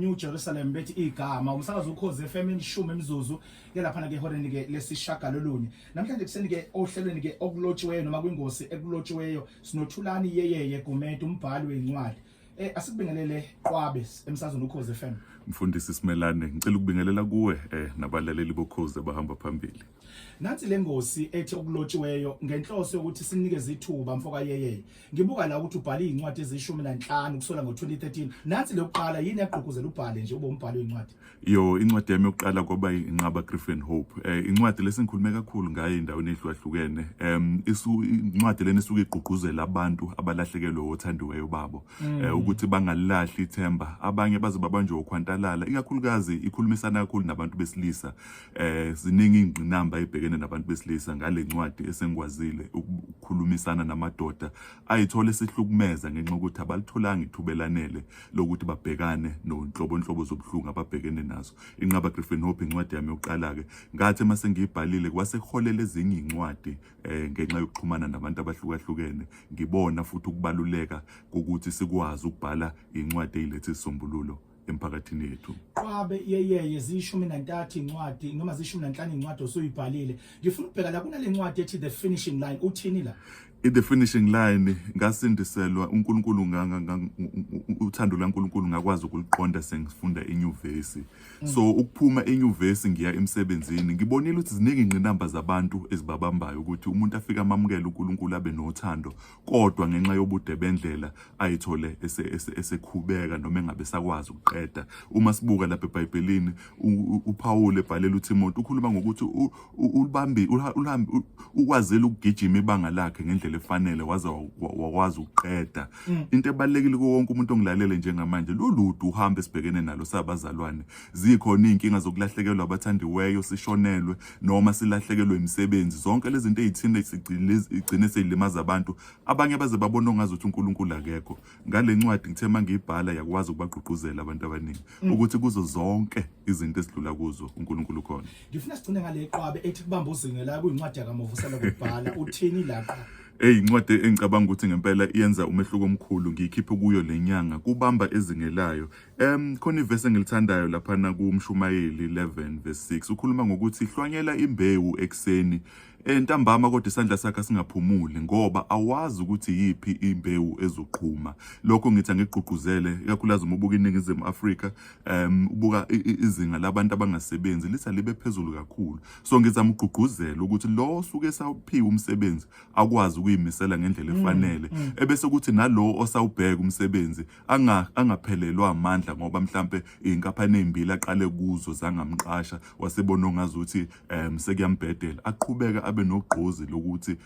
New Jerusalem bethi igama umsakazo ukhoze FM imshumi imizuzu yelaphana ke horeni ke lesishagalolunye namhlanje kuseni ke ohlelweni ke okulotshiweyo noma kwingosi ekulotshiweyo sinothulani yeyeye Gumede umbhali wencwadi eh asikubingelele Qwabe emsazweni ukhoze FM mfundisi Simelane ngicela ukubingelela kuwe eh nabalaleli bokhoze abahamba phambili nansi lengosi ethi okulotshiweyo ngenhloso yokuthi sinikeze ithuba mfoka yeyeye Ngibuka la ukuthi ubhale izincwadi ezishumi nanhlanu kusola ngo-2013. Nansi leyokuqala yini yagqugquzela ubhale nje ube umbhali wezincwadi? Yo, incwadi yami yokuqala kwaba inqaba Grief and Hope. Eh incwadi lesingikhulume kakhulu ngayo endaweni ehlukahlukene. Em isu incwadi lena isuke igqugquzela abantu abalahlekelwe othandiweyo babo mm. eh ukuthi bangalilahli ithemba. Abanye baze babanjwe ukhwantalala. Ikakhulukazi ikhulumisana kakhulu nabantu besilisa. eh ziningi ingqinamba ebhekene nabantu besilisa ngale ncwadi esengikwazile ukukhulumisana namadoda ayithola isihlukumeza ngenxa ukuthi abalitholanga ithubelanele lokuthi babhekane nonhlobonhlobo zobuhlungu ababhekene nazo inqaba Griffin Hope incwadi yami yokuqala ke ngathi uma sengiyibhalile kwase kuholela ezinye incwadi eh ngenxa yokuxhumana nabantu abahlukahlukene ngibona futhi ukubaluleka kokuthi sikwazi ukubhala incwadi eyilethe isisombululo emphakathini yethu qwabe yeyeye ziyishumi nantathu incwadi noma ziyishumi nanhlanu incwadi osuyibhalile ngifuna ukubheka la kunale ncwadi ethi the finishing line uthini la in the finishing line ngasindiselwa uNkulunkulu nganga uthando laNkulunkulu ngakwazi ukuliqonda sengifunda enyuvesi mm. so ukuphuma enyuvesi ngiya emsebenzini ngibonile ukuthi ziningi ingqinamba zabantu ezibabambayo ukuthi umuntu afika amamukele uNkulunkulu abe nothando kodwa ngenxa yobude bendlela ayithole esekhubeka noma engabe sakwazi ukuqeda uma sibuka lapha eBhayibhelini uPawulu ebhalela uThimothi ukhuluma ngokuthi ulibambi uhambe ukwazile ukugijima ibanga lakhe ngendlela efanele waze wakwazi ukuqeda mm. into ebalekile kuwo wonke umuntu ongilalele njengamanje loludu uhambe sibhekene nalo sabazalwane zikhona izinkinga zokulahlekelwa abathandiweyo sishonelwe noma silahlekelwe imisebenzi zonke lezi zinto ezithina igcine seyilimaza abantu abanye baze babona ongazi ukuthi uNkulunkulu akekho ngale ncwadi ngithe mangiyibhala yakwazi ukubagqugquzela abantu abaningi mm. ukuthi kuzo zonke izinto esidlula kuzo uNkulunkulu ukhona ngifuna sigcine ngale qwabe ethi kubamba uzinge la kuyincwadi yakaMovusela kubhala uthini la qwabe Hey incwadi engicabanga ukuthi ngempela iyenza umehluko omkhulu ngiyikhiphe kuyo lenyanga kubamba ezingelayo Em khona ivesi engilithandayo lapha na kumshumayeli 11 verse 6 ukhuluma ngokuthi hlwanyela imbewu ekseni entambama kodwa isandla sakhe singaphumuli ngoba awazi ukuthi yipi imbewu ezoqhuma lokho ngithi angigqugquzele ikakhulukazi uma ubuka iningizimu Afrika em ubuka izinga labantu abangasebenzi litha libe phezulu kakhulu so ngizama ugqugquzela ukuthi lo osuke sawuphiwa umsebenzi akwazi ukuyimisela ngendlela mm, efanele mm. ebese kuthi nalo osawubheka umsebenzi anga angaphelelwa amandla ngoba mhlambe inkaphane ezimbili aqale kuzo zangamqasha wasebona ongazuthi um sekuyambhedela aqhubeka abe nogqozi lokuthi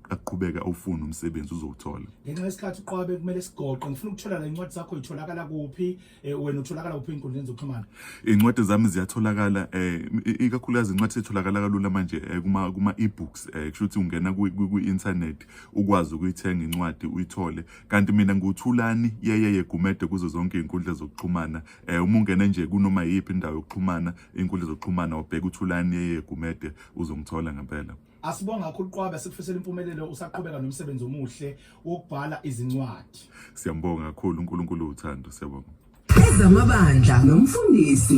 aqhubeka ufuna umsebenzi uzowuthola ngenxa yesikhathi uqwabe kumele sigoqe ngifuna ukuthola la incwadi zakho itholakala kuphi eh, wena utholakala kuphi inkundleni zokuxhumana incwadi zami ziyatholakala eh ikakhulukazi incwadi setholakala kalula manje eh, kuma kuma e-books eh kusho ukuthi ungena ku internet ukwazi ukuyithenga incwadi uyithole kanti mina nguthulani yeyeye gumede kuzo zonke iy'nkundla zokuxhumana um uma ungene nje kunoma yiyiphi indawo yokuxhumana iy'nkundla zokuxhumana wabheka uthulani yeyeye gumede uzongithola ngempela asibonga kakhulu qwabe sikufisela impumelelo usaqhubeka nomsebenzi omuhle wokubhala izincwadi siyambonga kakhulu unkulunkulu uthando siyabonga ezamabandla nomfundisi